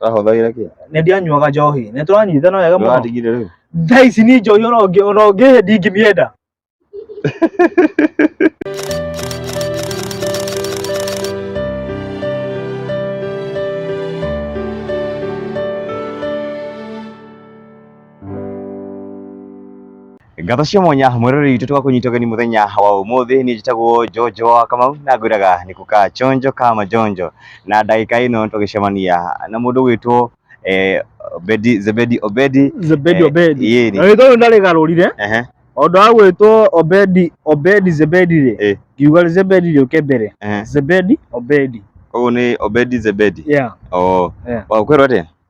Ahũthagĩra kĩ? Nĩ ndianyuaga njohi. Nĩ tũranyitana wega mũno. Ndũratigire rĩu. Thaa ici ni njohi ona ũngĩ ona ũngĩ ndingĩmĩenda. Ngatho cia mwanya mwĩroreri witũ tũgakũnyita ũgeni mũthenya wa ũmũthĩ niĩ njĩtagwo Jojo wa Kamau na ngwĩraga nĩ kuka chonjo kama jonjo na ndagĩka ĩno tũgĩcemania na mũndũ gwĩtwo eh, Obedi Zebedi Obedi Zebedi Eh, Obedi. yee ni. Rĩtwa rĩu ndarĩgarũrire ehe o ũndũ wa gwĩtwo Obedi Obedi Zebedi rĩ Eh. ngiuga rĩ Zebedi rĩũke mbere ehe Zebedi Obedi koguo nĩ Obedi Zebedi yeah oh yeah. wa kwĩrwo atĩa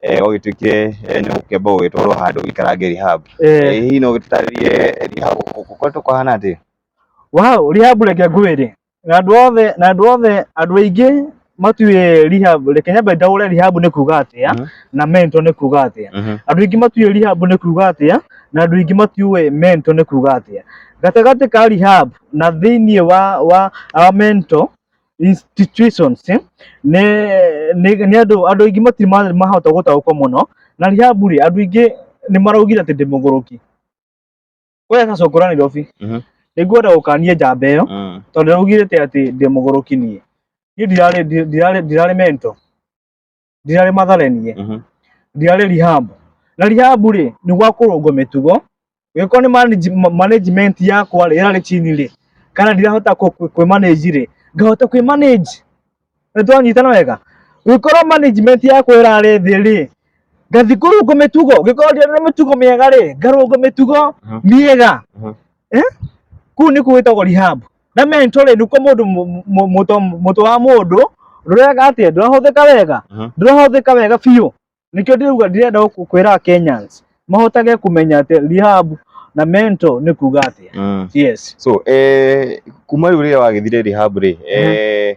eh, ũgĩtuĩke eh, nĩ gũkĩamba ũgĩtwarwo handũ ũikarange rehab Eh, Eh, hihi no ũgĩtũtarĩrie rehab gũkoretwo kũhana atĩ wow rehab reke ngwĩre na andũ othe na andũ othe andũ aingĩ matiũĩ rehab reke nyambe ndaũre rehab nĩ kuga atĩa Mhm. na mentor nĩ kuga atĩa andũ aingĩ matiũĩ rehab nĩ kuga atĩa na andũ aingĩ matiũĩ mentor nĩ kuga atĩa gatagatĩ ka rehab na thĩinĩ wa wa wa mentor institutions eh, nĩ nĩ nĩ andũ andũ aingĩ matirĩ ma- mahota gũtaũkwo mũno na Rahabu rĩ andũ aingĩ nĩ maraugire atĩ ndĩ mũgũrũki we sasa ũkũra Nairobi Mhm. nĩngwenda gũkania njamba ĩyo Mm. tondũ augire atĩ atĩ ndĩ mũgũrũki niĩ niĩ ndirarĩ ndi- ndirarĩ ndirarĩ mento ndirarĩ matharenie mhm. ndirarĩ rehab na rehab rĩ nĩ gwa kũrũngwo mĩtugo gĩkorwo nĩ management yakwa rĩ ĩrarĩ chini rĩ kana ndirahota kwĩ manage rĩ ngahota kwĩ manage nĩ twanyitana wega gĩkorwo management yakwa ĩrarĩ thĩ rĩ ngathi kũrũngwo mĩtugo gĩkorwo ndirarĩ mĩtugo mĩega rĩ ngarũngwo mĩtugo mhm. mĩega mhm. eh? kuu nĩ kũwĩtagwo rehab na mentoring niko mundu mutu wa mundu ndurega atia ndurahuthika wega ndurahuthika wega biũ nikio ndiruga ndirenda gukwira Kenyans mahotage kumenya ati rehab na mento ni kuga atia mm. yes so eh kuma riu riria wagithire rehab ri eh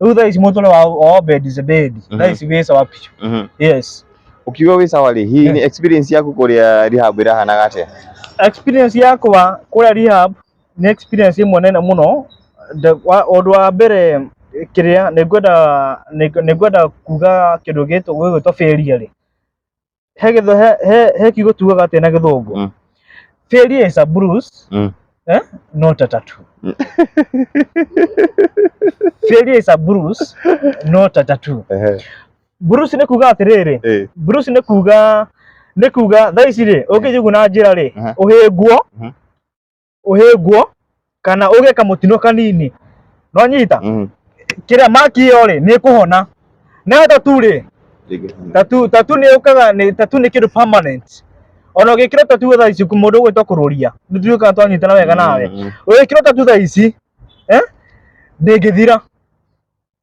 Rĩu thaa ici mũtũre wa wa obedi zebedi thaa Mhm. ici wĩ sawa picu Mhm. yes Ukiuga wĩ sawa rĩ, hihi ni experience yaku kũrĩa rehab ĩrahanaga atĩa? experience yakwa kũrĩa rehab nĩ experience ĩmwe nene mũno The- wa- ũndũ wa mbere kĩrĩa nĩngwenda nĩng- nĩngwenda kuga kĩndũ gĩtũ- gĩgwĩtwo failure rĩ he gĩtho he he he kiugo tugaga atĩ na gĩthũngũ Mm. failure is a bruise Mm. eh? not a tattoo failure is a bruise not a tattoo Ehe. bruise nĩ kuga atĩrĩrĩ Eh. bruise nĩ kuga nĩ kuga thaa ici rĩ ũngĩjiguna njĩra rĩ Aha. ũhĩngwo Mhm. ũhĩngwo kana ũgĩe kamũtino kanini no nyita Mhm. kĩrĩa maki ĩyo rĩ nĩ kũhona nayo tatu rĩ Ndĩngĩhona. tatu tatu nĩ ũkaga nĩ tatu nĩ kĩndũ permanent ona ũgĩkĩra tatu thaa ici kũ- mũndũ ũgwĩtwo kũrũria nĩ tuĩ kana twanyitana wega nawe Mhm. ũgĩkĩra tatu thaa ici eh, ndĩngĩthira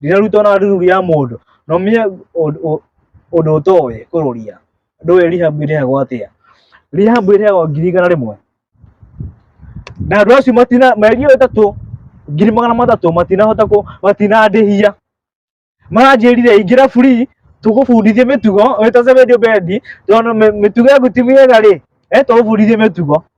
ndirarutwo na ruru ya mũndũ no mie ũndũ ũtoĩ kũrũria ndũĩ rehab ĩrĩhagwo atĩa rehab ĩrĩhagwo ngiri igana rĩmwe na andũ acio matina mĩeri ĩyo ĩtatũ ngiri magana matatũ matinahota kũ matinandĩhia maranjĩrire ingĩra free tũgũbundithie mĩtugo wĩtace video bendi tondũ mĩ- mĩtugo yaku ti mĩega rĩ eh tũgũbundithie mĩtugo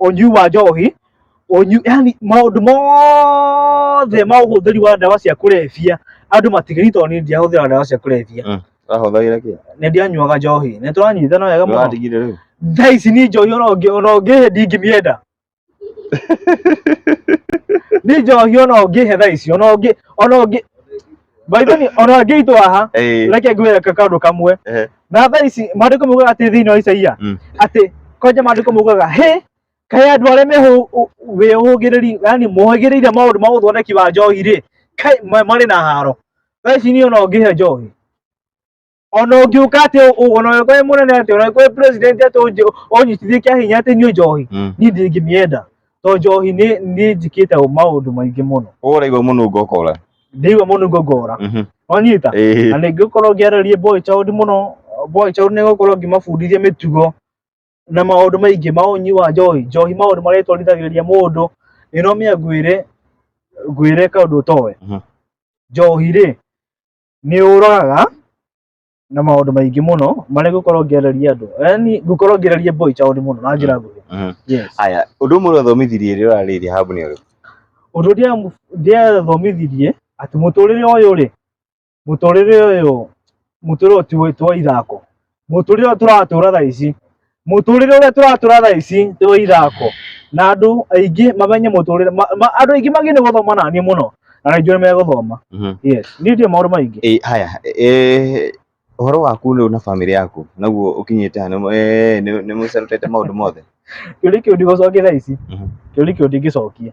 ũnyui wa njohi ũnyu yani maũndũ mothe ma ũhũthĩri wa ndawa cia kũrebia andũ matigĩri tondũ niĩ ndiahũthĩra ndawa cia kũrebia Mm. Ahũthagĩra kĩ? nĩ ndianyuaga njohi nĩ tũranyitana wega mũno Ndũratigire rĩu. thaa ici niĩ njohi ona ũngĩ- ona ũngĩhe ndingĩmĩenda niĩ njohi ona ũngĩhe thaa ici ona ũngĩ ona ũngĩ Baithoni ona ngĩitwo haha Eh, reke ngwĩre ka- kaũndũ kamwe eh, na thaa ici maandĩko maugaga atĩ thĩinĩ wa Isaia Mm. atĩ kwanja maandĩko maugaga hĩ kaĩ andũ arĩa mehũgĩrĩri yani mohĩgĩrĩire maũndũ ma ũthondeki wa njohi rĩ kaĩ ma- marĩ na haro thaa ici niĩ ona ũngĩhe njohi ona ũngĩũka atĩ ũ- ona ũngĩkorwo wĩ mũnene atĩ ona ũngĩkorwo wĩ president atĩ ũnjĩ- ũnyitithie kĩa hinya atĩ nyue njohi Mm. niĩ ndingĩmĩenda to njohi nĩ nĩ njĩkĩte maũndũ maingĩ mũno Ũguo ũraigua mũnungo ũkora. ndĩigua mũno ngongora Mhm. wanyita Ĩĩ. na nĩ ngũkorwo ngĩarĩrie boy child mũno boy child nĩ ngũkorwo ngĩmabundithia mĩtugo na maũndũ maingĩ ma ũnyi wa njohi njohi maũndũ marĩa ĩtwarithagĩrĩria mũndũ ĩno mĩa ngwĩre ngwĩre kaũndũ ũtowe Mhm. njohi rĩ nĩ ũroraga na maũndũ maingĩ mũno marĩa ngũkorwo ngĩarĩria andũ yani ngũkorwo ngĩarĩria boy child mũno na njĩra nguhĩ Mhm. yes Aya, ũndũ ũmwe ũrathomithirie rĩrĩa ũrarĩirie habu nĩ ũrĩkũ? ũndũ ũrĩa ndĩathomithirie atĩ mũtũrĩre ũyũ rĩ mũtũrĩre ũyũ mũtũrĩre ũyũ ti wa- ti wa ithako Mũtũrĩre ũrĩa tũratũra thaa ici, mũtũrĩre ũrĩa tũratũra thaa ici ti wa ithako, na andũ aingĩ mamenye mũtũrĩre, ma- ma- andũ aingĩ magĩe nĩ gũthoma na niĩ mũno, na aingĩ nĩ megũthoma. Mhm. Yes, niĩ ndiũĩ maũndũ maingĩ. Eh, haya eh, ũhoro waku rĩu na bamĩrĩ yaku naguo ũkinyĩte ha nĩ- eh, nĩ nĩ mũcerutĩte maũndũ mothe Kĩũria kĩu ndigũcokia thaa ici, Mhm. kĩũria kĩu ndingĩcokia.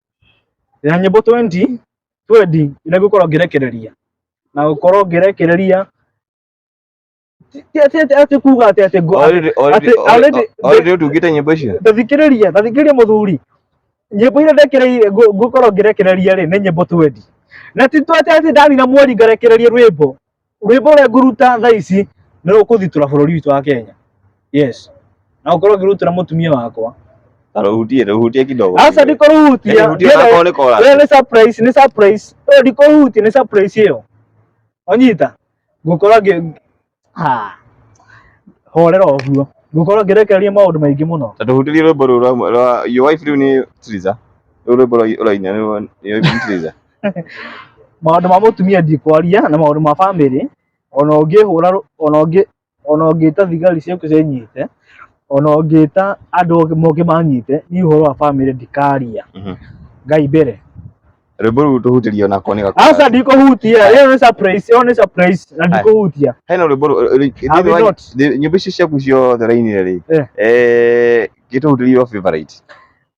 na nyĩmbo 20 twendi ĩrĩa ngũkorwo ngĩrekereria na gũkorwo ngĩrekereria ti- ti atĩ- atĩ- atĩ kuga atĩ atĩ ngũ- Already- already- atĩ- already- already ũtungĩte nyĩmbo icio ndathikĩrĩria ndathikĩrĩria mũthuri nyĩmbo iria ndekereire ngũ- ngũkorwo ngĩrekereria rĩ nĩ nyĩmbo twendi na ti tu atĩ atĩ ndanina mweri ngarekereria rwĩmbo Rwĩmbo rũrĩa ngũruta thaa ici nĩ rũkũthitũra bũrũri witũ wa Kenya. Yes. Na ũkorwo ngĩrutĩra mũtumia wakwa. Na rũhutie, rũhutie kidogo. Aca ndikũrũhutia. Rũhutie onakorwo nĩ kora. Ĩyo nĩ surprise, nĩ surprise. Ĩyo ndikũrũhutia, nĩ surprise ĩyo. Wanyita? Ngũkorwo ngĩ... Ha. Horera ũguo. Ngũkorwo ngĩrekereria maũndũ maingĩ mũno. Ta tũhutĩrie rwĩmbo rũu rwa Your Wife rĩu nĩ Triza. Rũu rwĩmbo rwa ũraina nĩ rwa Your Wife nĩ Triza. maũndũ ma mũtumia ndikwaria na maũndũ ma bamĩrĩ ona ũngĩhũra rũ- ona ũngĩ ona ũngĩta thigari ciũke cinyite ona ũngĩta andũ angĩ moke manyite niĩ ũhoro wa bamĩrĩ ndikaria Mhm. ngai mbere rwĩmbo rũu tũhutĩrio nako nĩ gakũra. aca ndikũhutia ĩyo nĩ surprise ĩyo nĩ surprise na ndikũhutia hena rwĩmbo rũ- rũ- rũ- Have you thĩinĩ wa- not? thĩ- nyĩmbo icio ciaku ciothe rainire rĩ Eh. eh, gĩtũhutĩrio favorite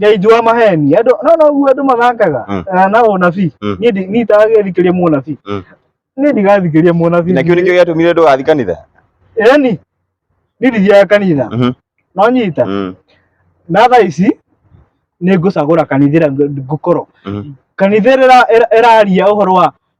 ngai njũa maheni andũ no noguo andũ mathangaga Mm. Eh, na ũnabii Mm. niĩ ndi- niĩ itagagĩthikĩria mũnabii Mm. niĩ ndigathikĩria mũnabii na kĩu nĩkĩo gĩatũmire ndũgathi kanitha yani niĩ ndithiaga kanitha Mhm. no nyita Mm, na thaa ici nĩ ngũcagũra kanitha ĩrĩa ng- ngũkorwo mm, kanitha ĩrĩa ĩra- ĩraria ũhoro wa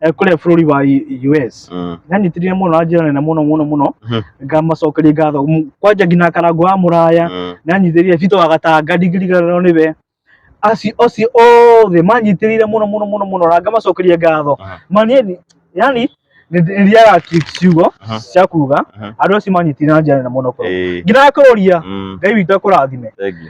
eh, kũrĩa bũrũri wa U- US Mm. nanyitithire mũno na njĩra nene mũno mũno mũno Mhm. ngamacokeria ngatho M- kwanja nginya karango wa mũraya Mm. nanyitĩrire bito wa gatanga ndigiriganĩrwo nĩwe acio acio othe manyitĩrĩire mũno mũno mũno mũno na ngamacokeria ngatho Aha. manieni yani nĩndĩraga ciugo Aha. cia kuga Aha. andũ acio manyitire na njĩra nene mũno kũrũ Ĩĩ. nginya kũrũria Mm. ngai witũ akũrathime Thank you.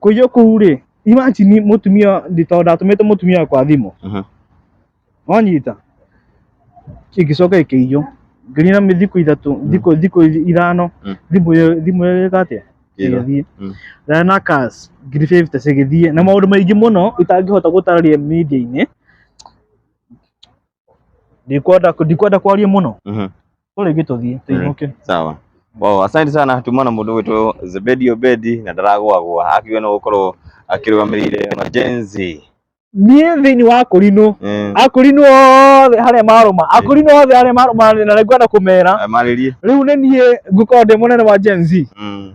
kũiywo kũu rĩ imagine mũtumia ndito ndatũmĩte mũtumia kwa thimũ Aha. wanyita igĩcoka ĩkĩiywo ngĩrina mĩ thikũ ithatũ thikũ thikũ ithano Mm. thimũ ĩyo- thimũ ĩyo ĩka atĩa Ĩra. ĩgĩthiĩ Mm. rĩa na kas ngiri fifty cigĩthiĩ na maũndũ maingĩ mũno itangĩhota gũtarĩria media-inĩ ndikwenda ndikwenda kwaria mũno Mhm. tũ rĩngĩ tũthiĩ tũinũke sawa wow, asante sana tumana mundu witå zebedi obedi na ndaragwagwa akiuga no gukorwo akirũgamĩrĩire majenzi niĩ thĩinĩ wa akũrinũ Eh, akũrinũ othe harĩa marũma akũrinũ othe harĩa marũma na rĩu ngwenda kũmera marĩrie rĩu nĩ niĩ ngũkorwo ndĩ mũnene wa Gen Z Mm.